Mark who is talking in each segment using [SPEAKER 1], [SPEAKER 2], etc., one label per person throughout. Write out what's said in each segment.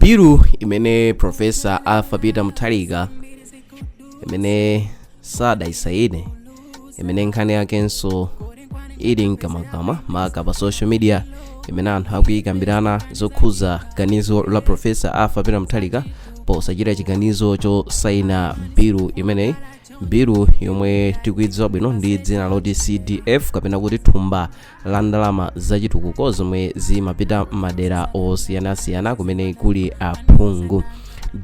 [SPEAKER 1] bilu imene profesa arthur peter mutharika imene sadaisaine imene nkhani yakenso ili mkamwamkamwa maka pa social media imene anthu akuyikambirana zokhuza ganizo la profesa arthur peter mutharika posachita chiganizo chosaina bilu imeneyi bilu yomwe tikuidziwa bwino ndi dzina loti cdf kapena kuti thumba la ndalama zachitukuko zomwe zimapita m'madera osiyanasiyana kumene kuli aphungu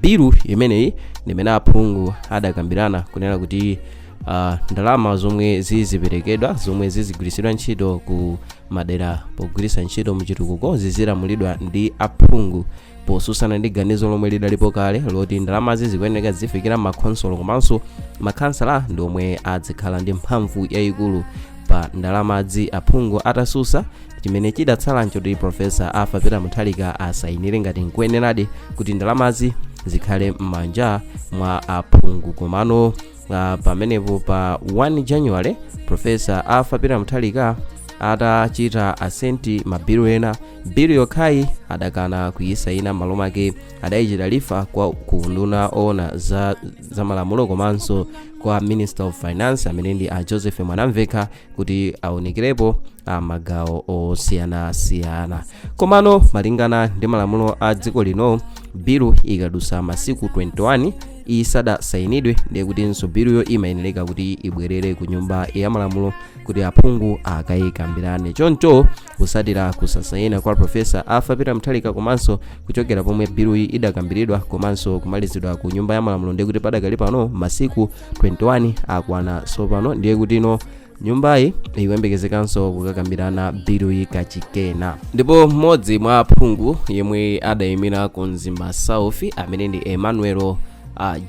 [SPEAKER 1] bilu imeneyi ndimene aphungu adakambirana kunena kuti uh, ndalama zomwe ziziperekedwa zomwe zizigwiritsidwa ntchito ku madera pogwiritsa ntchito mchitukuko zizilamulidwa ndi aphungu posusana ndi ganizo lomwe lidalipo kale loti ndalamazi zikuyeneka zifikira m'makhonsolo komanso makhansala ndi omwe adzikhala ndi mphamvu yayikulu pa ndalamazi aphungu atasusa chimene chidatsala nchoti profesa arthur peter mutharika asayinire ngati nkuyeneradi kuti ndalamazi zikhale m'manja mwa aphungu komano uh, pamenepo pa 1 january profesa arthur peter mutharika atachita assent mabilu ena bilu yokhayi adakana kuyisayina m'malo mwake adayichita refer kwa nduna oona za, za malamulo komanso kwa minister of finance amene ndi a joseph mwanamvekha kuti aunikirepo a magawo osiyanasiyana komano malingana ndi malamulo a dziko lino bilu ikadusa masiku 21 isadasainidwe ndiye kutinso biluyo imayenereka kuti ibwerere ku nyumba ya malamulo kuti aphungu akayikambirane choncho kusatira kusasaina kwa profesa arthur peter mutharika komanso kuchokera pomwe biluyi idakambiridwa komanso kumalizidwa ku nyumba ya malamulo ndiye kuti padakali pano masiku 21 akwana tsopano ndiye kutino nyumbayi ikuyembekezekanso kukakambirana biluyi kachikena ndipo mmodzi mwa aphungu yemwe adayimira ku mzimba south amene ndi emmanuel uh,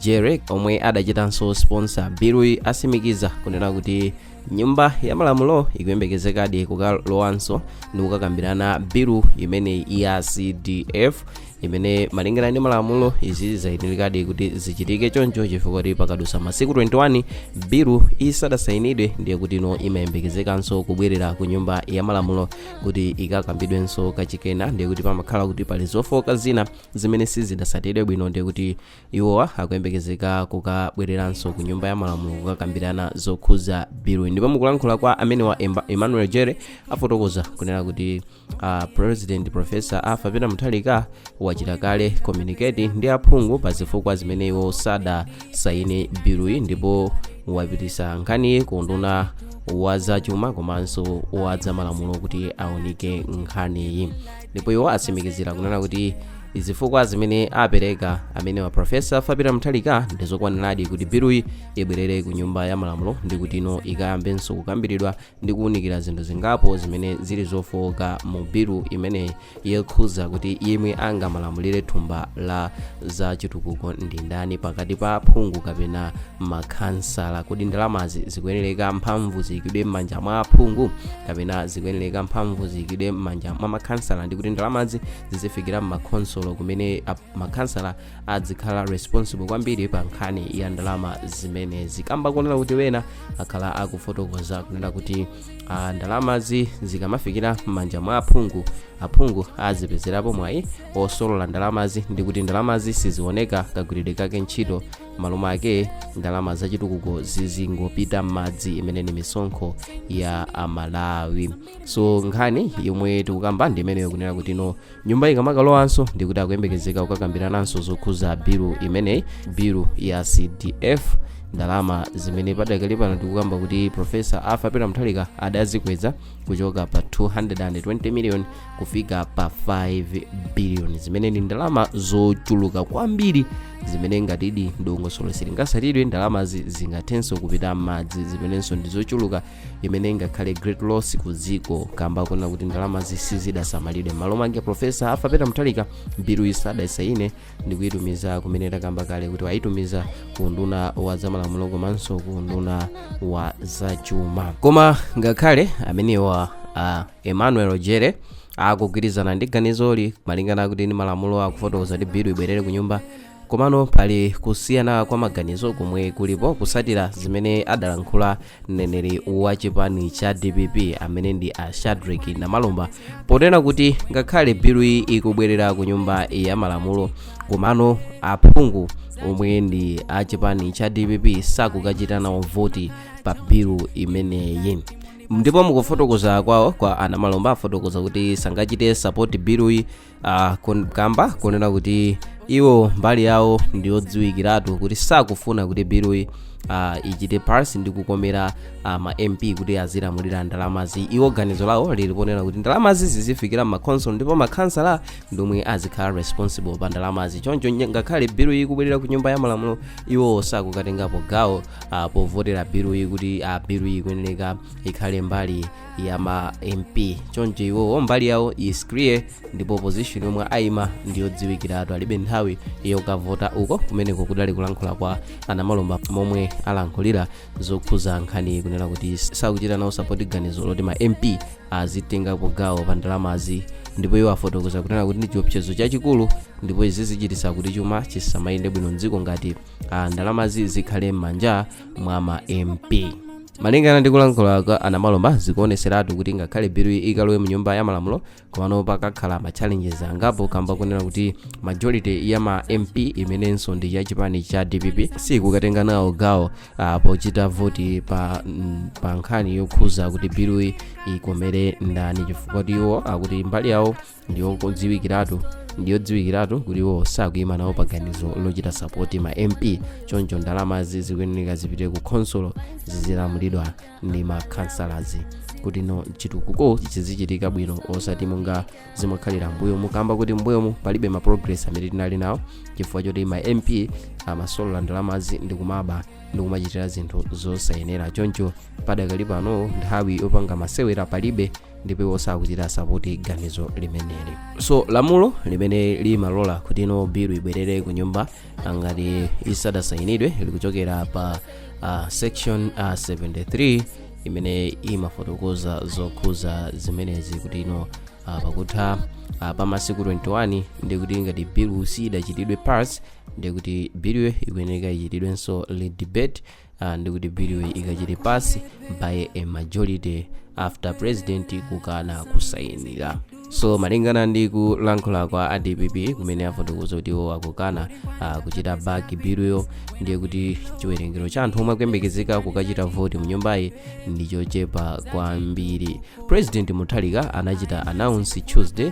[SPEAKER 1] jere omwe adachitanso sponsor biluyi asimikiza kunena kuti nyumba ya malamulo ikuyembekezekadi kukalowanso ndi kukakambirana bilu imeneyi ya cdf imene malingana ndi malamulo izi zayenerekadi kuti zichitike choncho chifukwa kuti pakadutsa masiku 21 bilu isadasayinidwe ndiye kutino imayembekezekanso kubwerera ku nyumba ya malamulo kuti ikakambidwenso kachikena ndiye kuti pamakhala kuti pali zofooka zina zimene sizidasatidwe bwino ndiye kuti iwowa akuyembekezeka kukabwereranso ku nyumba ya malamulo kukakambirana zokhuza bilu ndipo mukulankhula kwa amenewa Emba- emmanuel jere afotokoza kunena kuti a president profesa arthur peter mutharika wachita kale communicate ndi aphungu pa zifukwa zimene iwo sadasayine biluyi ndipo wapitisa nkhaniyi ku unduna wa zachuma komanso wa zamalamulo kuti aunike nkhaniyi ndipo iwo atsimikizira kunena kuti zifukwa zimene apereka amene wa profesa arthur peter mutharika ndizokwaniradi kuti biluyi ibwerere ku nyumba ya malamulo ndi kuti ino ikayambenso kukambiridwa ndi kuwunikira zinthu zingapo zimene zili zofooka mu bilu imene yokhuza kuti yemwe angamalamulire thumba la za chitukuko ndi ndani pakati pa aphungu kapena makhansala kodi ndalamazi zikuyenereka mphamvu ziyikidwe m'manja mwa aphungu kapena zikuyenereka mphamvu ziyikidwe m'manja mwa makhansala ndi kuti ndalamazi zizifikira m'makhonsolo kumene ap- makhansala adzikhala responsible kwambiri pa nkhani ya ndalama zimenezi kamba kunena kuti ena akhala akufotokoza kunena kuti ah, ndalamazi zikamafikira m'manja mwa aphungu aphungu azipezerapo mwayi osolola ndalamazi ndi kuti ndalamazi sizioneka kagwiridwe kake ntchito malo mwake ndalama zachitukuko zizingopita m'madzi imene ni misonkho ya amalawi so nkhani yomwe tikukamba ndi imeneyo kunena kuti ino nyumba ikamakalowanso ndikuti akuyembekezeka kukakambirananso zokhuza bilu imeneyi bilu ya cdf ndalama zimene padakali pano tikukamba kuti profesa arthur peter mutharika adazikweza kuchoka pa 220 million kufika pa 5 billion zimene ndi ndalama zochuluka kwambiri zimene ngatidi ndongosolo silingatsatidwe ndalamazi zingathenso kupita m'madzi zimenenso ndi zochuluka imene ingakhale great loss ku dziko kamba kunena kuti ndalamazi sizidasamalidwe malo mwake profesa arthur peter mutharika biluyi sadaisayine ndi kuyitumiza kumene takamba kale kuti wayitumiza ku unduna wa zamalamulo komanso ku unduna wa zachuma koma ngakhale amenewa uh, emmanuel jere akugwirizana ndi ganizoli malingana kuti ni malamulo akufotokoza kuti bilu ibwerere ku nyumba komano pali kusiyana kwa maganizo komwe kulipo kutsatira zimene adalankhula mneneri wa chipani cha dpp amene ndi a shadrick namalomba ponena kuti ngakhale biluyi ikubwerera ku nyumba ya malamulo komano aphungu omwe ndi a chipani cha dpp sakukachita nawo voti pa bilu imeneyi ndipo mukufotokoza kwawo kwa anamalomba afotokoza kuti sangachite sapoti biluyi uh, kun, kamba kunena kuti iwo mbali yawo ndiyodziwikiratu kuti sakufuna kuti biluyi uh, ichite pass ndi kukomera uh, ma mp kuti azilamulira ndalamazi iwo ganizo lawo lili ponena kuti ndalamazi zizifikira m'makhonsolo ndipo makhansala ndomwe azikhala responsible pa ndalamazi choncho nye- ngakhale biluyi ikubwerera ku nyumba ya malamulo iwo sakukatengapo gawo uh, povotera biluyi kuti uh, biluyi ikuyenereka ikhale mbali ya ma mp choncho iwo mbali yawo is clear ndipo position yomwe ayima ndiyodziwikiratu alibe nthawi yokavota uko kumeneko kudali kulankhula kwa a namalomba momwe alankhulira zokhuza nkhani kunena kuti sakuchita nawo sapoti ganizo loti ma mp azitengapo gawo pa ndalamazi ndipo iwo afotokoza kunena kuti ndi chiopsezo chachikulu ndipo izi zichititsa kuti chuma chisamayende bwino mdziko ngati ah, ndalamazi zikhale m'manja mwa ma mp malingana ndi kulankhula kwa a namalomba zikuoneseratu kuti ngakhale biluyi ikalowe mu nyumba ya malamulo komano pakakhala ma challenges angapo kamba kunena kuti majority ya ma mp imenenso ndi ya chipani cha dpp sikukatenga nawo gawo ah, pochita voti pa, mm, pa nkhani yokhuza kuti biluyi ikomere ndani chifukwa kuti iwo akuti mbali yawo ndiyodziwikiratu kuti iwo sakuyima nawo paganizo lochita sapoti ma mp choncho ndalamazi zikuyeneka zipite ku khonsolo zizilamulidwa ndi ma councillors kuti ino chitukuko chizichitika bwino osati monga zimakhalira mbuyomu kamba kuti mbuyomu palibe ma progress amene tinali nawo chifukwa choti ma mp amasolola ndalamazi ndi kumaba ndi kumachitira zinthu zosayenera choncho padakali pano nthawi yopanga masewera palibe ndipo iwo sakuchita sapoti ganizo limeneli so lamulo limene limalola kuti ino bilu ibwerere ku nyumba ah, ngati isadasayinidwe likuchokera pa ah, section ah, 73 imene imafotokoza zokhuza zimenezi kuti ino ah, pakutha ah, pa masiku 21 ndiye kuti ngati bilu siyidachitidwe pass ndiye kuti biluyo ikuyeneka ichitidwenso redebate Ah, ndikuti biluyo ikachite pass by a majority after president kukana kusayinira so malingana ndi kulankhula kwa a dpp kumene afotokoza kuti iwo akukana ah, kuchita back biluyo ndiye kuti chiwerengero cha anthu omwe akuyembekezeka kukachita voti mu nyumbayi ndi chochepa kwambiri president mutharika anachita announce tuesday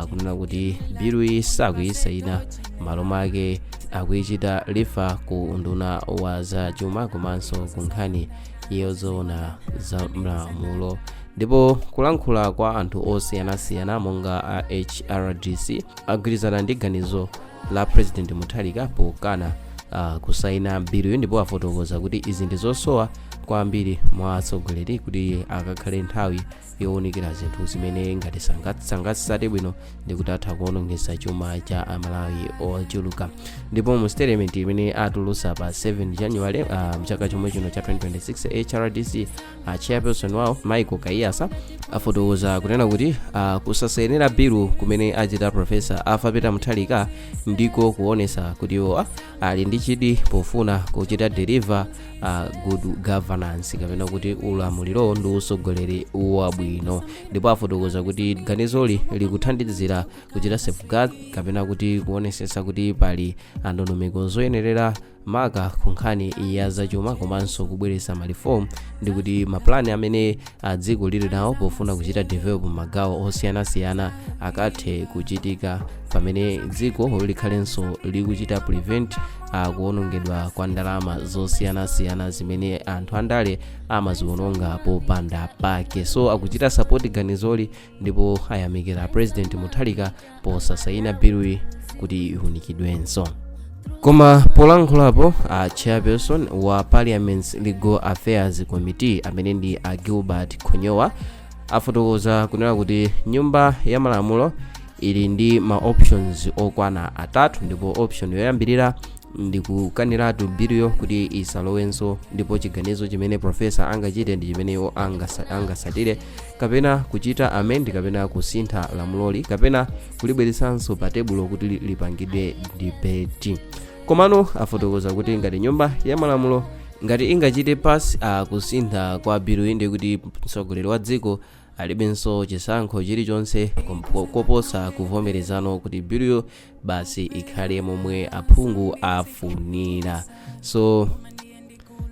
[SPEAKER 1] kunena kuti biluyi sakuyisaina malo mwake akuyichita refer ku nduna wa za chuma komanso ku nkhani yozoona za malamulo ndipo kulankhula kwa anthu osiyanasiyana monga a hrdc agwirizana ndi ganizo la president mutharika pokana uh, kusaina biluyo ndipo afotokoza kuti izi ndi zosowa kwambiri mwa atsogoleri kuti akakhale nthawi yowunikira zinthu zimene ngati sanga- sangatsate bwino ndikuti atha kuonongesa chuma cha amalawi ochuluka ndipo mu statement imene atulusa pa 7 january uh, mchaka chomwe chino cha 2026 hrdc uh, chairperson wawo michael kaiyatsa afotokoza kunena kuti uh, kusasayinira bilu kumene achita profesa arthur peter mutharika ndiko kuonesa kuti iwo ali ndi chidwi pofuna kuchita deliver uh, good governance kapena kuti ulamuliro ndi usogoleri wabwino ndipo afotokoza kuti ganizoli likuthandizira kuchita safeguard kapena kuti kuonesesa kuti pali ndondomeko zoyenerera maka ku nkhani ya zachuma komanso kubweretsa malifomu ndi kuti mapulani amene a dziko lili nawo pofuna kuchita develop magawo osiyanasiyana akathe kuchitika pamene dziko likhalenso likuchita prevent a kuonongedwa kwa ndalama zosiyanasiyana zimene anthu andale amaziononga popanda pake so akuchita support ganizoli ndipo ayamikira president mutharika posasayina biluyi kuti iunikidwenso koma polankhulapo a chairperson wa parliament's legal affairs committee amene ndi a gilbert khonyowa afotokoza kunena kuti nyumba ya malamulo ili ndi ma options okwana atatu ndipo option yoyambirira ndi kukaniratu biluyo kuti isalowenso ndipo chiganizo chimene profesa angachite ndi chimene iwo angasa- angasatire kapena kuchita amend kapena kusintha lamuloli kapena kulibweretsanso pa tebulo kuti li- lipangidwe debate komano afotokoza kuti ngati nyumba ya malamulo ngati ingachite pasi a kusintha kwa biluyi ndi kuti mtsogoleri wa dziko alibenso chisankho chilichonse kompo- koposa kuvomerezano kuti biluyo basi ikhale momwe aphungu afunira so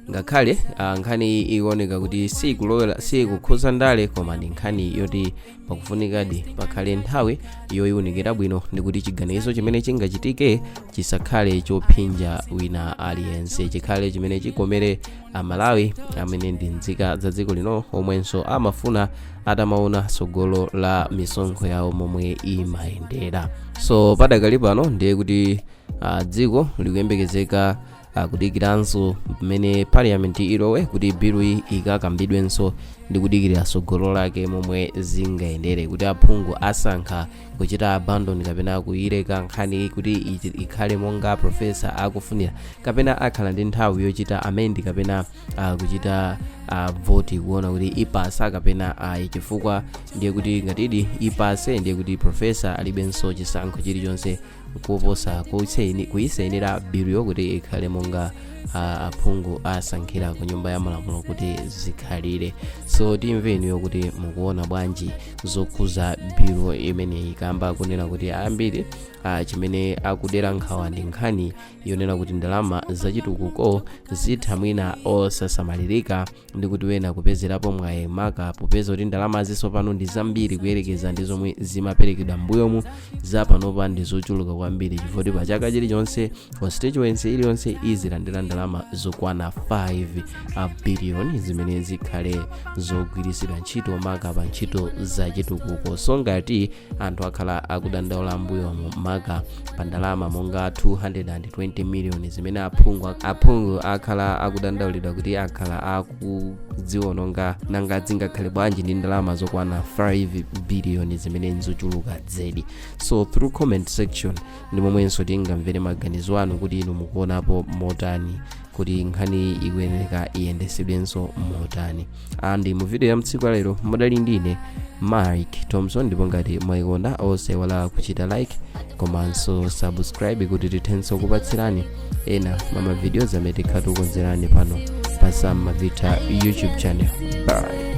[SPEAKER 1] ngakhale ah, nkhani iyi ikuoneka kuti sikulowera sikukhuza ndale koma ndi nkhani yoti pakufunikadi pakhale nthawi yoyiwunikira bwino ndikuti chiganizo chimene chingachitike chisakhale chophinja wina aliyense chikhale chimene chikomere amalawi amene ndi nzika za dziko lino omwenso amafuna atamaona tsogolo la misonkho yawo momwe imayendera so padakali pano ndiye kuti uh, dziko likuyembekezeka uh, kudikiranso pamene parliament ilowe kuti biluyi ikakambidwenso ndi kudikirira tsogolo lake momwe zingayendere kuti aphungu asankha kuchita abandon kapena kuyileka nkhani kuti ichi- ikhale monga profesa akufunira kapena akhala ndi nthawi yochita amend kapena uh, kuchita uh, voti kuona kuti ipasa kapena ayi uh, chifukwa ndiye kuti ngatidi ipase ndiye kuti profesa alibenso chisankho chilichonse kuposa kuyisainira biluyo kuti ikhale monga uh, aphungu asankhira ku nyumba ya malamulo kuti zikhalire so timve inuyo kuti mukuona bwanji zokhuza bilu imeneyi kamba kunena kuti ambiri uh, chimene akudera nkhawa ndi nkhani yonena kuti ndalama zachitukuko zitha mwina osasamalirika ndi kuti wena kupezerapo mwayi maka popeza kuti ndalama zisopano ndi zambiri kuyerekeza ndi zomwe zimaperekedwa mbuyomu zapanopa ndi zochuluka kwambiri chifukwa pa chaka chilichonse constituency iliyonse izilandira ndalama zokwana 5 biliyoni zimene zikhale zogwiritsidwa ntchito maka pa ntchito zachitukuko so ngati anthu akhala akudandaula mbuyomu maka pa ndalama monga 220 miliyoni zimene aphungu akhala akudandaulidwa kuti akhala akuziwononga nanga zingakhale bwanji ndi ndalama zokwana 5 biliyoni zimene nzochuluka zedi so through comment section ndi momwenso tingamvere maganizo anu kuti inu mukuonapo motani kuti nkhaniyi ikuyeneka iyendetsedwenso motani andi mu video ya mtsiku la lero mudali ndine mike thompson ndipo ngati mwayikonda osayiwala kuchita like komanso subscribe kuti tithenso kupatsirani ena mwa ma videos amene tikhala tikukonzerani pano pa sam mavita youtube channel bye